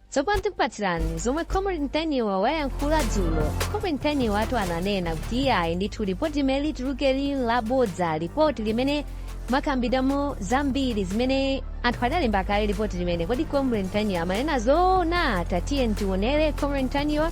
tsopano tikupatsirani zomwe comrade ntaniwa wayankhula dzulo comrade ntaniwa watu ananena kuti iye ayi ndithu lipoti limene lituluke lili labodza lipoti limene makambidamo zambiri zimene anthu adalemba kale lipoti limene kodi comrade ntaniwa amanena zoona tatiyeni tionere comrade ntaniwa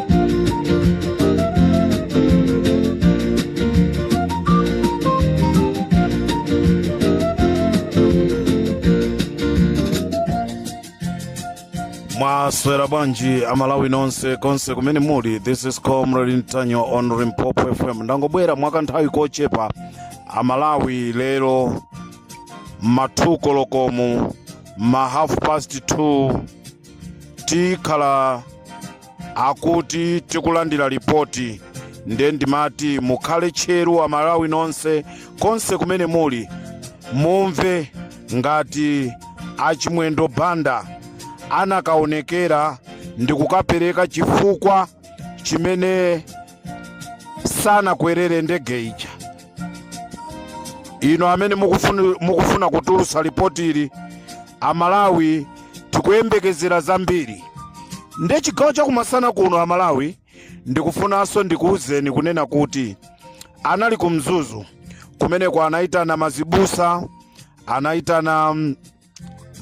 mwaswera bwanji amalawi nonse konse kumene muli this is comrade ntaniwa on limpopo fm ndangobwera mwa kanthawi kochepa amalawi lero m'ma 2 koloko mu ma half past 2 tikhala akuti tikulandira lipoti nde ndimati mukhale tcheru amalawi nonse konse kumene muli mumve ngati achimwendo banda anakaonekera ndi kukapereka chifukwa chimene sanakwerere ndege ija inu amene mukufuna kutulutsa lipoti ili amalawi tikuyembekezera zambiri nde chigawo chakumasana kuno amalawi ndikufunanso ndikuwuzeni kunena kuti anali ku mzuzu kumeneko anayitana mazibusa anayitana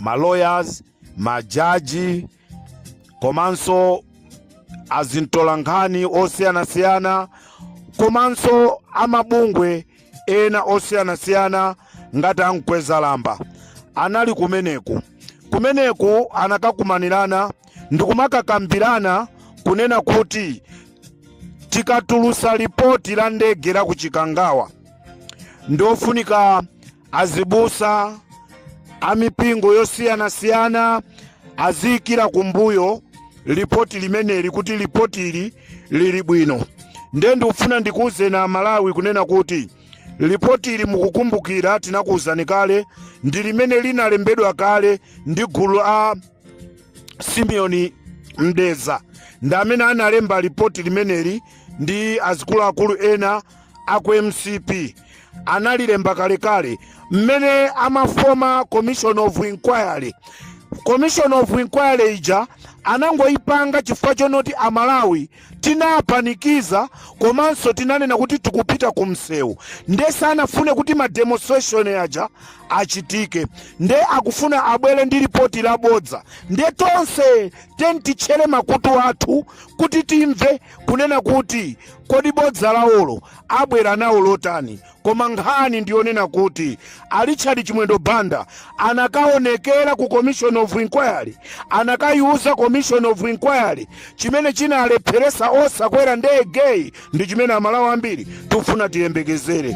ma lawyers majaji komanso azimtolankhani osiyanasiyana komanso amabungwe ena osiyanasiyana ngati ankhwazi lamba anali kumeneku kumeneku anakakumanirana ndikumakakambirana kunena kuti tikatulusa lipoti la ndege la ku chikangawa ndiofunika azibusa a mipingo yosiyanasiyana aziyikira kumbuyo lipoti limeneli kuti lipoti ili lili bwino nde ndikufuna ndikuwuzeni amalawi kunena kuti lipoti ili mukukumbukira tinakuwuzani kale ndi limene linalembedwa kale ndi gulu la simeoni mdeza ndi amene analemba lipoti limeneli ndi azikuluakulu ena a ku mcp analilemba kalekale mmene amafoma commission of inquiry commission of inquiry ija anangoyipanga chifukwa chonoti amalawi tinapanikiza komanso tinanena kuti tikupita ku msewu nde sanafune kuti ma demonstration aja achitike nde akufuna abwere ndi lipoti labodza nde tonse tiyeni titchere makutu athu kuti timve kunena kuti Kodi bodza lawolo abwera nawo lotani? Koma nkhani ndi yonena kuti a Richard Chimwendo Banda anakaonekera ku Commission of Inquiry, anakayiuza Commission of Inquiry chimene chinalepheretsa osakwera ndegeyi ndi chimene Amalawi ambiri tikufuna tiyembekezere.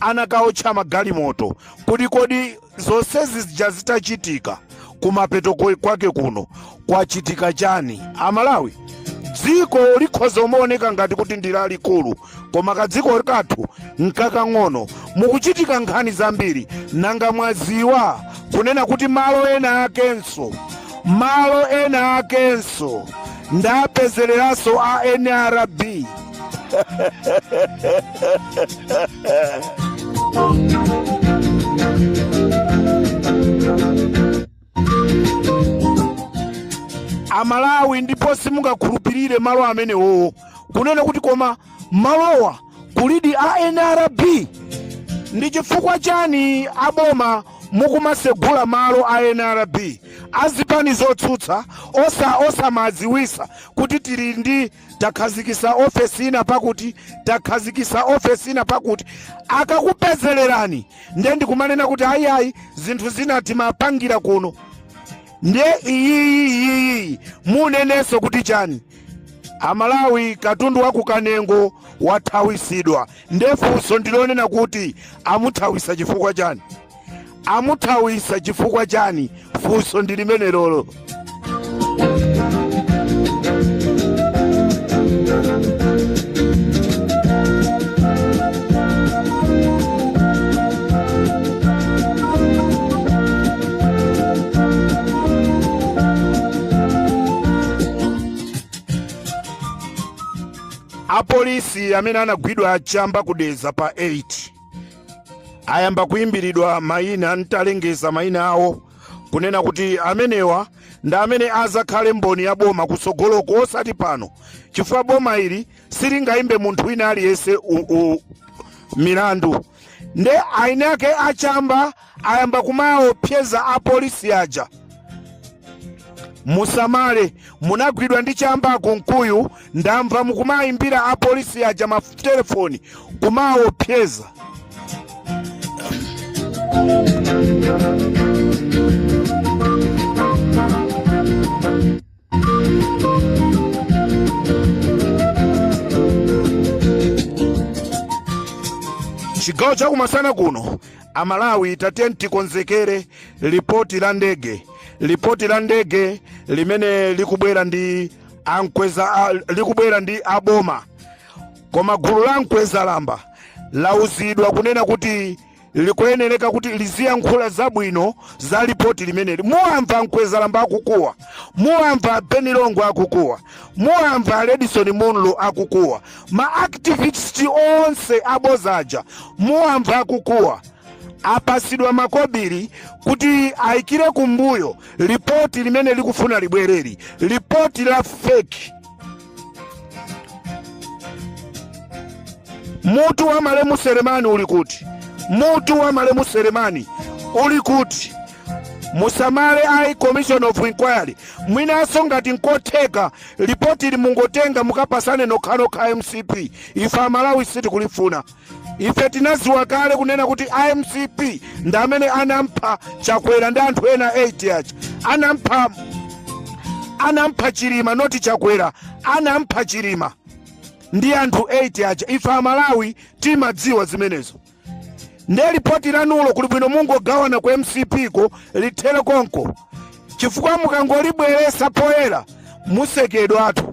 anakaotcha magalimoto kuti kodi zonse zija zitachitika kumapeto kwe- kwake kuno kwachitika chani amalawi dziko likhoza kumaoneka ngati kuti ndi lalikulu koma kadziko kathu nkakang'ono mukuchitika nkhani zambiri nanga mwaziwa kunena kuti malo ena akenso malo ena akenso ndapezereranso a nrb amalawi ndipo simungakhulupirire malo amenewowo kunena kuti koma malowa kulidi a nrb ndi chifukwa chani aboma mukumasegula malo a nrb azipani zotsutsa osa osamadziwisa kuti tili ndi takhazikisa ofesi ina pakuti takhazikisa ofesi ina pakuti akakupezelerani ndiye ndikumanena kuti ayiayi zinthu zina timapangira kuno ndiye iyiyi iyiyi munenanso kuti chani amalawi katundu wa kukanengo wathawisidwa ndefunso ndilonena kuti amuthawisa chifukwa chani amuthawisa chifukwa chani funso ndi limenelolo apolisi amene anagwidwa achamba ku Dedza pa 8 ayamba kuimbiridwa mayina atalengeza mayina awo kunena kuti amenewa ndi amene adzakhale mboni ya boma kutsogoloko osati pano chifukwa boma ili silingayimbe munthu wina aliyense u- u- milandu nde enaake achamba ayamba kumaopseza apolisi aja musamale munagwidwa ndi chamba a Kunkuyu ndamva mukumayimbira apolisi aja matelefoni kumaopseza chigawo chakumasana kuno amalawi tatiyeni tikonzekere lipoti la ndege lipoti la ndege limene likubwera ndi ankweza a- likubwera ndi aboma koma gulu la mkweza lamba lauzidwa kunena kuti likuyenereka kuti liziyankhula zabwino za lipoti limeneli muwamva mkwezalamba akukuwa muwamva ben longwe akukuwa muwamva redison munlo akukuwa ma activist onse aboza aja muwamva akukuwa apasidwa makobiri kuti ayikire kumbuyo lipoti limene likufuna libwereli lipoti la feki Mutu wa malemu Selemani uli kuti? Mutu wa malemu Selemani uli kuti? musamale ayi commission of inquiry mwinanso ngati nkotheka lipoti li mungotenga mukapasane nokhanokha mcp ife amalawi sitikulifuna Ife tinaziwa kale kunena kuti a mcp ndi amene anampha chakwera ndi anthu ena 8 aja anampha anampha chilima noti chakwera anampha chilima ndi anthu 8 aja ife amalawi timadziwa zimenezo nde lipoti lanulo kuli bwino mungogawana ku mcp ko lithere konko chifukwa mukangolibweresa poyera musekedwatu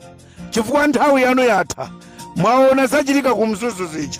chifukwa nthawi yanu yatha mwaona zachitika ku mzuzu zija